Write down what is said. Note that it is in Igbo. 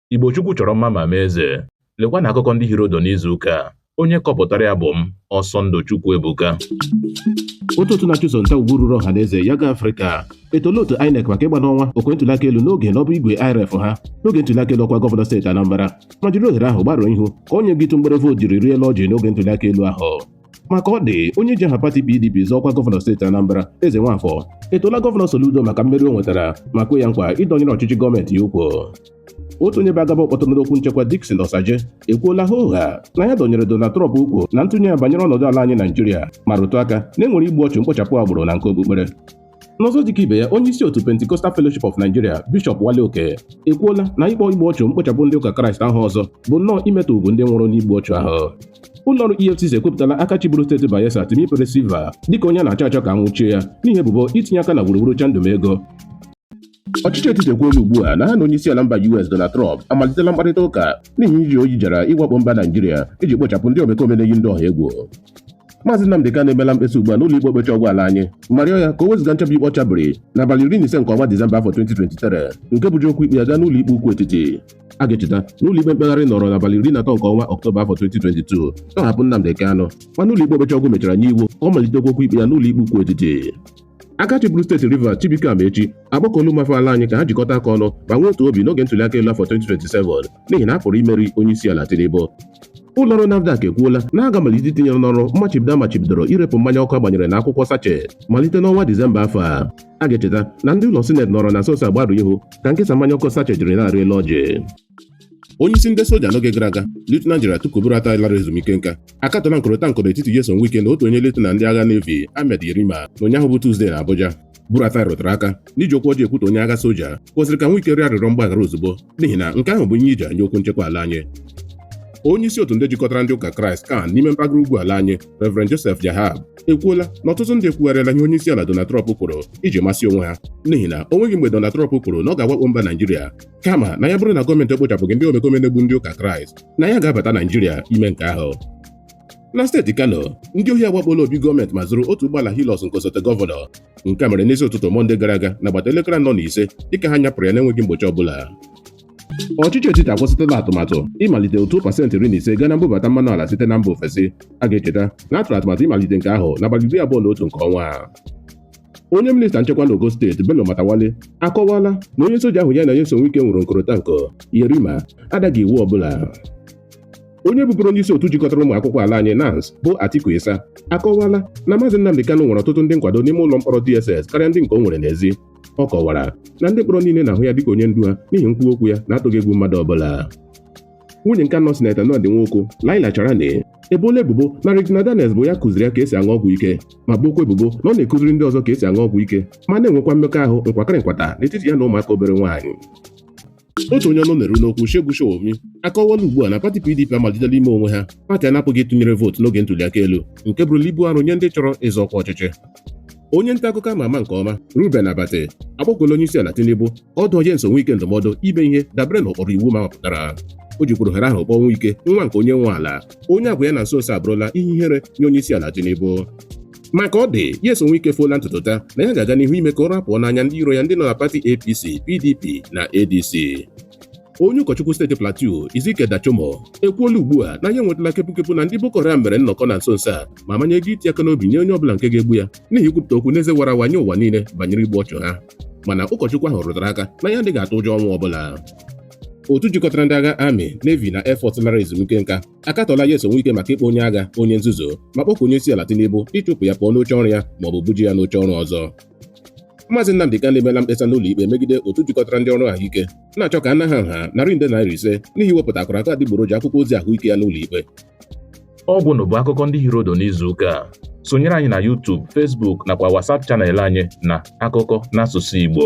Igbo Chukwu chọrọ mma ma mee eze. Lekwa na akụkọ ndị hiri ụdụ n'izu ụka a. Onye kọpụtara ya bụ m, Ọsọndụ Chukwuebuka. otu otu na-achụso nta ugwu ruru ọha na eze Yiaga Africa etoola otu inec maka ịgba n'anwụ okwe ntụliaka elu n'oge n'ọbụ igwe IReV ha n'oge ntụliaka elu ọkwa gọvanọ steeti anambra ma jiri ohere ahụ gbarụọ ihu ka onye ịtụ mgbere vootu jiri rịa elu ọjị n'oge ntụliaka elu ahụ ma ka ọ dị onye ji aha pati PDP zọọ ọkwa gọvanọ steeti Anambra Ezenwafọ etoola gọvanọ Soludo maka mmeri o nwetara ma kwe ya nkwa ịdọnyere ọchịchị gọọmenti ya ukwu otu onye bụ agaba kpọtụrụ n'okwu nchekwa Dickson Osajie ekwuola hoo haa na ya dọnyere Donald Trump ukwu na ntụnye ya banyere ọnọdụ ala anyị Naijiria ma rụtụ aka na e nwere igbu ọchụ mkpochapụ agbụrụ na nke okpukpere N'ọzọ dịka ibe ya onye isi otu Pentecostal Fellowship of Nigeria Bishọp Wale Oke ekwuola na ịkpọ igbu ọchụ mkpochapụ ndị ụka Kraịst aha ọzọ bụ nnọọ imetọ ugwu ndị nwụrụ n'igbu ọchụ ahụ ụlọọrụ EFCC ekwupụtala aka chịburu steeti Bayelsa Timipre Sylva dịka onye a na-achọ achọ ka a nwụchie ya n'ihi ebubo itinye aka na wuruwuru chandum ego Ọchịchị etiti ekwuola ugbu a na ha na onyeisiala mba US Donald Trump amalitela mkparịta ụka n'ihi iji oyi jara ịwakpo mba Naijiria iji kpochapụ ndị omekome na-eyi ndị ọha egwu Maazị Nnamdị Kanu emela mkpesa ugbu a n'ụlọ ikpe okpecha ọgwụ ala anyị ma rịọ ya ka o wezụga nchabi ikpe ọ chabiri n'abalị iri na ise nke ọnwa Disemba afọ 2023 nke bụji okwu ikpe ya gaa n'ụlọ ikpe ukwu etiti a ga-echeta na ụlọ ikpe mkpegharị nọrọ n'abalị iri na atọ nke ọnwa Ọktoba afọ 2022 tọhapụ Nnamdị Kanu mana ụlọ ikpe okpecha ọgwụ mechara nye iwu ka ọ malitekwa okwu ikpe ya n'ụlọ ikpe ukwu etiti aka chịburu steeti Rivers Chibuike Amaechi akpọkuola ụmụafọ ala anyị ka ha jikọta aka ọnụ ma nwee otu obi n'oge ntụliaka elu afọ 2027 n'ihi na a pụrụ imeri onye isi ala Tinubu ụlọọrụ NAFDAC ekwuola na a ga-amalite itinyere n'ọrụ mmachibido a machibidoro irepụ mmanya ọkụ a gbanyere n'akwụkwọ sachet malite n'ọnwa Disemba afọ a a ga-echeta na ndị ụlọ sineti nọrọ na nso nso a gbarụọ ihu ka nkesa mmanya ọkụ sachet jiri na-arị elu ọjị onye isi ndị soja n'oge gara aga Lieutenant General Tukur Buratai lara ezumike nka akatọla nkụrịta nkụ n'etiti Nyesom Wike na otu onye Lieutenant ndị agha Navy Ahmed Yerima na ụnyaahụ bụ Tuzdee na Abuja Buratai rụtụrụ aka na iji okwu ọjọọ ekwutọ onye agha soja kwesịrị ka Wike rịọ arịrịọ mgbaghara ozugbo n'ihi na nke ahụ bụ ihe iji nye okwu nchekwa ala anyị onye isi otu ndị jikọtara ndị ụka kraịst CAN n'ime mpaghara ugwu ala anyị Reverend Joseph Jahab ekwuola na ọtụtụ ndị ekwugharịala ihe onye isi ala Donald Trump kwuru iji masị onwe ha n'ihi na o nweghị mgbe Donald Trump kwuru na ọ ga-awakpo mba Naijiria kama na ya bụrụ na gọọmenti ekpochapụghị ndị omekome na-egbu ndị ụka kraịst na ya ga-abata naijiria ime nke ahụ na steeti kano ndị ohi agbakpoola obi gọọmenti ma zuru otu ụgbọala Hilux nke osote gọvanọ nke a mere n'isi ụtụtụ mọnde gara aga n'agbata elekere anọ na ise dịka ha nyapụrụ ya na-enweghị mgbochi ọbụla ọchịchị etiti akwụsịtụla atụmatụ ịmalite ụtụ pasentị iri na ise gaa na mbubata mmanụ ala site na mba ofesi a ga-echeta na a tụrụ atụmatụ ịmalite nke ahụ n'abalị iri abụọ na otu nke ọnwa a onye minista nchekwa n'ogo steeti bello matawalle akọwala na onye soja ahụ ya na nyesom wike nwere nkọrịta nkọ yerima adaghị iwu ọbụla onye bụburu onye isi otu jikọtara ụmụ akwụkwọ ala anyị nans bụ atiku isah akọwala na maazị nnamdi kanu nwere ọtụtụ ndị nkwado n'ime ụlọ mkpọrọ dss karịa ndị nke o nwere n'ezi ọ kọwara na ndị mkpọrọ niile na-ahụ ya dịka onye ndu ha n'ihi nkwuwa okwu ya na-atụghị egwu mmadụ ọbụla nwunye nke anọ sineta Ned Nwoko Laila Charani eboola ebubo na Regina Daniels bụ ya kụziri ya ka esi aṅụ ọgwụ ike ma bookwa ebubo na ọ na-akụziri ndị ọzọ ka esi aṅụ ọgwụ ike ma na-enwekwa mmekọahụ nkwakịrị nkwata n'etiti ya na ụmụaka obere nwaanyị otu onye ọnụ na-eru n'okwu Segun Sowunmi akọwala ugbu a na pati PDP amalitela ime onwe ha pati a na-apụghị ịtụnyere vootu n'oge ntụliaka elu nke bụrụla ibu arụ nye ndị chọrọ ịzọ ọkwa ọchịchị onye nta akụkọ ama ama nke ọma Reuben Abati akpọkuola onye isi ala Tinubu ịdụ Nyesom Wike ndụmọdụ ime ihe dabere n'ụkpụrụ iwu ma mapụtara o jikwuru ohere ahụ kpọọ Wike nwa nke onye nwe ala onye agwa ya na nso nso abụrụla ihe ihere nye onye isi ala Tinubu ma ka ọ dị Nyesom Wike efoola ntutu taa na ya ga-aga n'ihu ime ka ụra pụọ n'anya ndị iro ya ndị nọ na pati APC PDP na ADC onye ụkọchukwu steeti plateau ezekiel dachomo ekwuola ugbu a na ya enwetala kepukepu na ndị boko haram mere nnọkọ na nso nso a ma manye ego iti aka n'obi nye onye ọbụla nke ga-egbu ya n'ihi ikwupụta okwu n'eze wara awa nye ụwa niile banyere igbu ọchụ ha mana ụkọchukwu ahụ rụtara aka na ya adịghị atụ ụjọ ọnwụ ọbụla otu jikọtara ndị agha army navy na air force lara ezumike nka akatọla nyesom wike maka ịkpọ onye agha onye nzuzu ma kpọkuo onye isi ala tinubu ịchụpụ ya pụọ n'oche ọrụ ya maọbụ bujee ya n'oche ọrụ ọzọ maazị nnamdi kanu emeela mkpesa n'ụlọ ikpe megide otu jikọtara ndị ọrụ ahụike na-achọ ka a naa ha nha narị nde naira ise n'ihi iwepụta akara aka adịgboroja akwụkwọ ozi ahụike ya n'ụlọ ikpe ọ gwụla bụ akụkọ ndị hiri ụdụ n'izu ụka a sonyere anyị na YouTube, Facebook nakwa WhatsApp channel anyị na akụkọ n'asụsụ Igbo